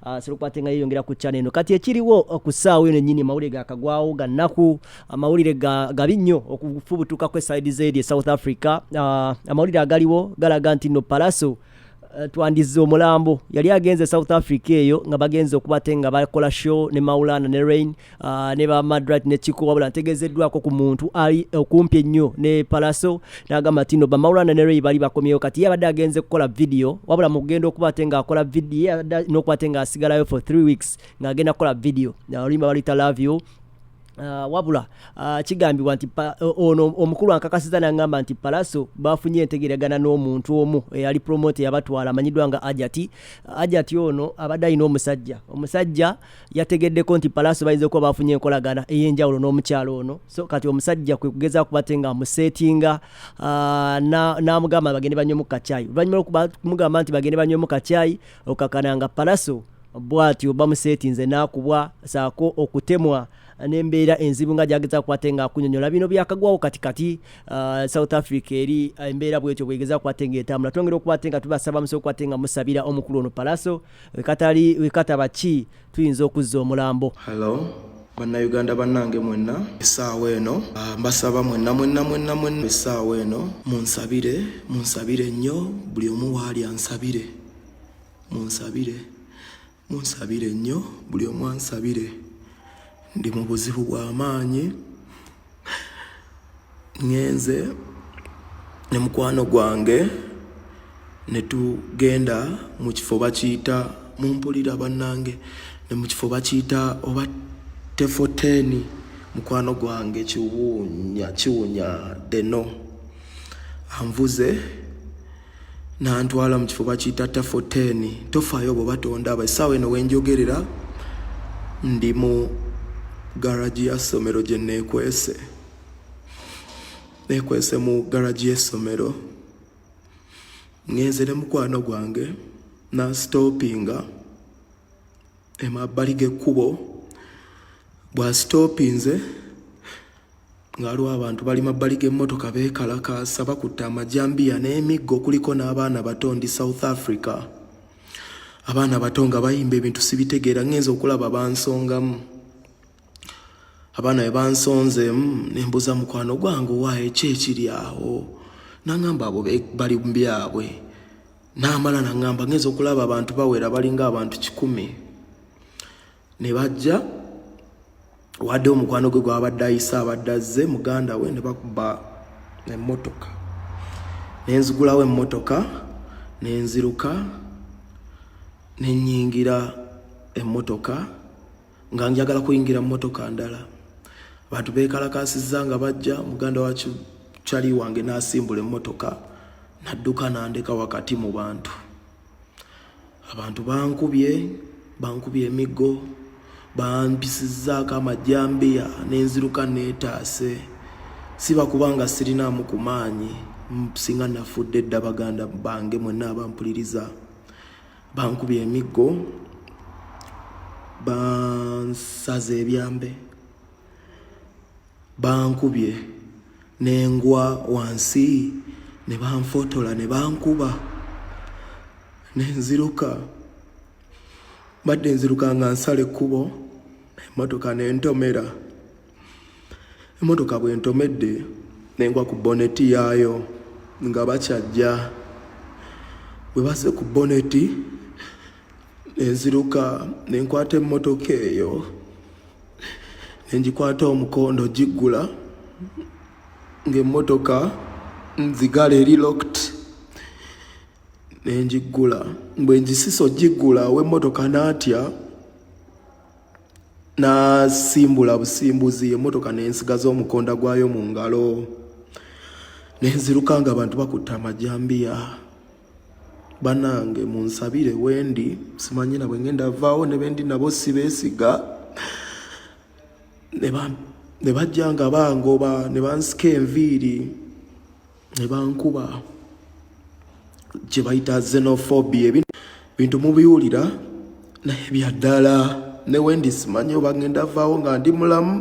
Ah, sirukuba ate nga yeyongera ku channel eno kati ekiriwo uh, ku ssaawa eno ennyini mawulire gakagwawo ga nnaku amawulire ah, gabi nnyo okufubutukako esaidi zeedi e south africa ah, amawulire agaliwo galaga nti no palaso eh, twandizza omulambo yali agenze e south africa eyo nga bagenze okubate nga bakola show ne maulana ne rain Ah, ne ba madrat ne kiko wabula ntegezeddwako ku muntu ali okumpi ennyo ne palaso n'agamba tino bamaulana ne rei bali bakomyewo kati ye abadde agenze kukola vidiyo wabula mu kugenda okuba ate ng'akola vidiyo n'okuba ate ng'asigalayo for three weeks ng'agenda kukola vidiyo oluyimba baluyita love you Uh, wabula uh, kigambibwa nti ono omukulu ankakasiza nangamba nti palaso bafunye entegeragana n'omuntu omu eyali eh, promote yabatwala amanyiddwa nga ajati ajati ono abadde alina omusajja omusajja yategeddeko nti palaaso bayinza okuba bafunye enkolagana ey'enjawulo n'omukyalo ono so kati omusajja kwe kugezaako kuba te nga amuseetinga ah, n'amugamba bagende banywemu kacyayi oluvannyuma lwokumugamba nti bagende banywemu kacyayi okakana nga palaso bwatyo bamuseetinze n'akubwa saako okutemwa n'embeera enzibu nga gyageza kukwate nga akunyonyola bino byakagwawo kati kati ah, south africa eri embeera bwetyo bwegeza kukwate nga etambula twongera okukwate nga tubasaba musobola okukwate nga musabira omukulu ono palaso wekatali wekataba ki tuyinza okuzza omulambo Hello. bannayuganda bannange mwenna essaawa eno ah, mbasaba mwenna mwenna mwenna mwenna essaawa eno munsabire munsabire nnyo buli omu waali ansabire munsabire munsabire nnyo buli omu ansabire ndi mu buzibu bw'amaanyi ngenze ne mukwano gwange ne tugenda mu kifo bakiyita mumpulira bannange ne mu kifo bakiyita oba tefoteni mukwano gwange kiwunya kiwunya deno anvuze nantwala mu kifo bakiyita tafo 10 tofaayo obo batonda abo essaawa eno wenjogerera ndi mu garagi ya ssomero gye neekwese neekwese mu garagi y'essomero ngenze ne mukwano gwange nasitoopinga emabbali g'ekkubo bwasitoopinze nga waliwo abantu bali mabbali g'emmotoka beekalakaasa bakutte amajambiya n'emiggo kuliko n'abaana bato ndi south africa abaana bato nga bayimba ebintu sibitegeera ngenza okulaba bansongamu abaana be bansonzemu nembuuza mukwano gwange owaayo ki ekiri awo nangamba abo bali mubyabwe naamala nangamba ngenza okulaba abantu bawera balinga abantu kikumi ne bajja wadde omukwano gwe gwabadde ayise abadde azze muganda we ne bakuba emmotoka ne nzigulawo emmotoka ne nziruka ne nnyingira emmotoka nga njagala kuyingira mmotoka ndala abantu beekalakaasizza nga bajja muganda wa kyali wange n'asimbula emmotoka nadduka nandeka wakati mu bantu abantu bankubye bankubye emiggo bampisizzaako amajambiya nenziruka neetaase siba kubanga sirinaamu ku maanyi singa nafudde dda baganda bange mwenna abampuliriza bankubye emiggo bansaza ebyambe Bankubye ne ngwa wansi ne banfotola ne bankuba ne nziruka. Mbadde nziruka nga nsala ekkubo emmotoka ne ntomera. Emmotoka bwe ntomedde ne ngwa ku boneti yaayo nga bakyajja. Bwe bazze ku boneti. nenziruka nenkwata emmotoka eyo nengikwata omukondo giggula ng'emmotoka nzigala eri lokt nengiggula bwe ngisisa ogiggula ow'emmotoka naatya nasimbula busimbuzi emmotoka nensigaza omukonda gwayo mu ngalo nenziruka nga abantu bakutte amajambiya banange munsabire wendi simanyi nabwe ngenda vaawo ne bendi nabo sibeesiga ne bajja nga bangoba ne bansika enviiri ne bankuba kye bayita xenophobia bintu mubiwulira naye byaddala newendi simanyi oba ngenda vaawo nga ndi mulamu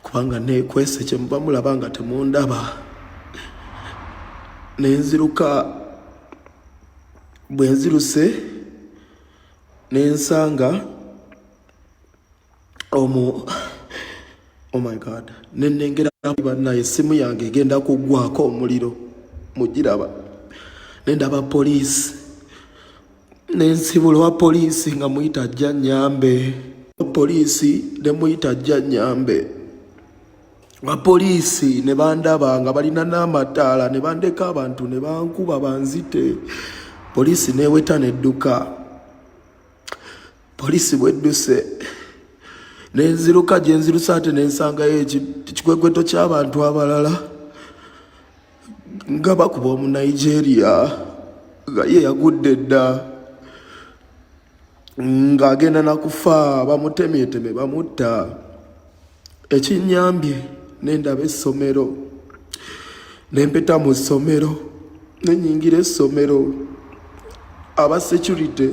kubanga nekwese kyemuba mulaba nga temundaba nenziruka bwenziruse nensanga omu oh my god nenengera banaye esimu yange egenda kugwako omuliro mugiraba nendaba poliisi nensibula wa poliisi nga muyita ajja nyambe poliisi nemuyita ajja nyambe bapoliisi ne bandaba nga balina n'amataala ne bandeka abantu ne bankuba banzite poliisi neeweta nedduka poliisi bwedduse nenziruka gyenzirusa ate nensangayo ekikwekweto ky'abantu abalala nga bakuba omu nigeria nga ye yagudde dda ng'agenda nakufa bamutemyeteme bamutta ekinyambye nendaba essomero nempeta mu ssomero nenyingira essomero aba security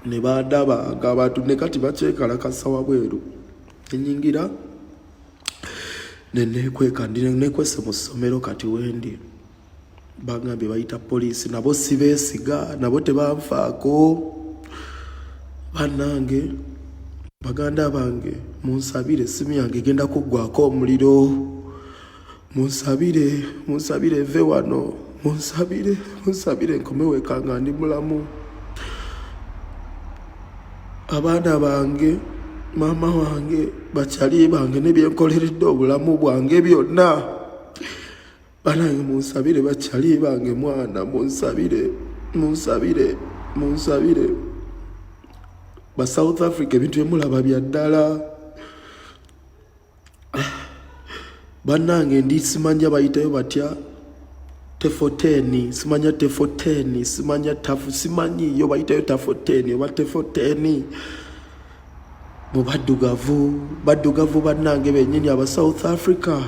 ne bandaba nga abantu ne kati bakyekalakasa wabweru nenyingira nenekweka nekwese mu ssomero kati wendi bangambye bayita poliisi nabo sibeesiga nabo tebanfaako bannange baganda bange munsabire esimu yange egenda kuggwako omuliro munsabire munsabire eve wano munsabire munsabire nkome weka nga ndi mulamu abaana bange maama wange bakyali bange nebyenkoleredde obulamu bwange byonna banange munsabire bakyali bange mwana munsabire munsabire munsabire ba south africa ebintu byemulaba bya ddala banange ndi simanya bayitayo batya tefoteni simanya tefoteni simanya tafu simanyi yo bayitayo tafoteni oba tefoteni mu baddugavu baddugavu bannange bennyini aba south africa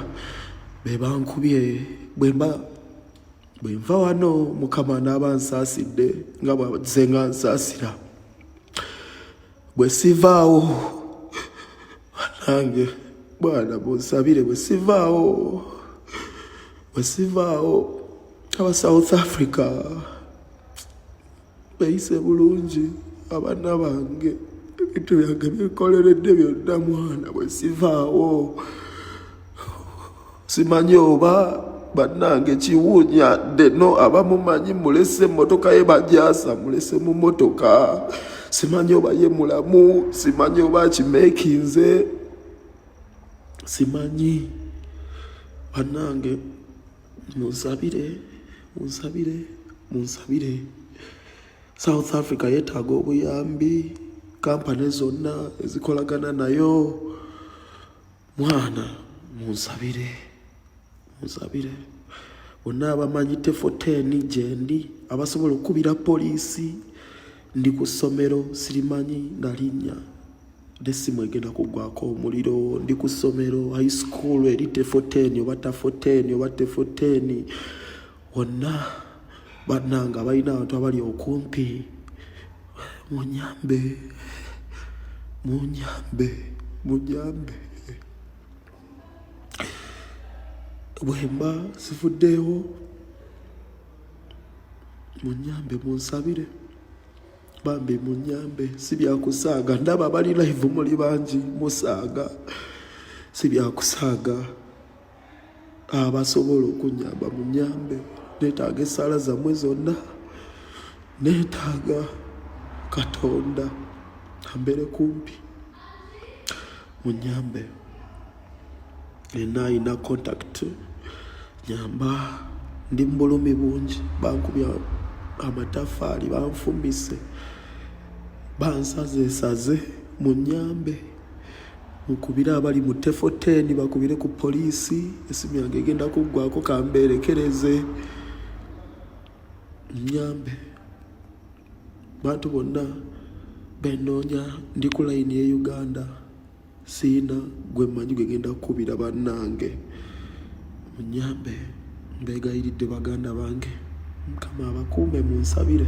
bebankubye bwemba bwenva wano mukama naaba nsaasidde nga bwaze nga nsaasira bwe sivaawo banange bwana bunsabire bwe sivaawo bwe sivaawo aba south africa bayise bulungi abaana bange ebintu byange bikoleredde byonna mwana bwe sivaawo simanyi oba bannange kiwuunya ddeno abamumanyi mulese emmotoka ye bajaasa mulese mu mmotoka simanyi oba ye mulamu simanyi oba akimeekinze simanyi bannange munsabire munsabire munsabire south africa yetaaga obuyambi kampani zonna ezikolagana nayo mwana munsabire munsabire bonna abamanyi tefoteni gyendi abasobola okukubira poliisi ndi ku ssomero sirimanyi nalinnya nesimu egenda kugwako omuliro ndi ku ssomero high school eri tefoteni oba tafoteni oba tefoteni wonna bananga abalina abantu abali okumpi munyambe munyambe munyambe bwemba sifuddeewo munyambe munsabire bambi munyambe sibyakusaaga ndaba abali live muli bangi musaaga sibyakusaaga abasobola okunyamba munyambe netaaga esaala zamwe zonna netaaga katonda ambere kumpi munyambe ena ayina contact nyamba ndi mubulumi bungi bankubya amatafaali banfumise bansazesaze munyambe mukubire abali mu tefo 10 bakubire ku poliisi esimu yange egenda kuggwako kambeerekereze nyambe bantu bonna benoonya ndi ku layini ye uganda siina gwe mmanyi gwe ngenda kukubira bannange munyambe mbeegayiridde baganda bange mukama abakuume mu nsabire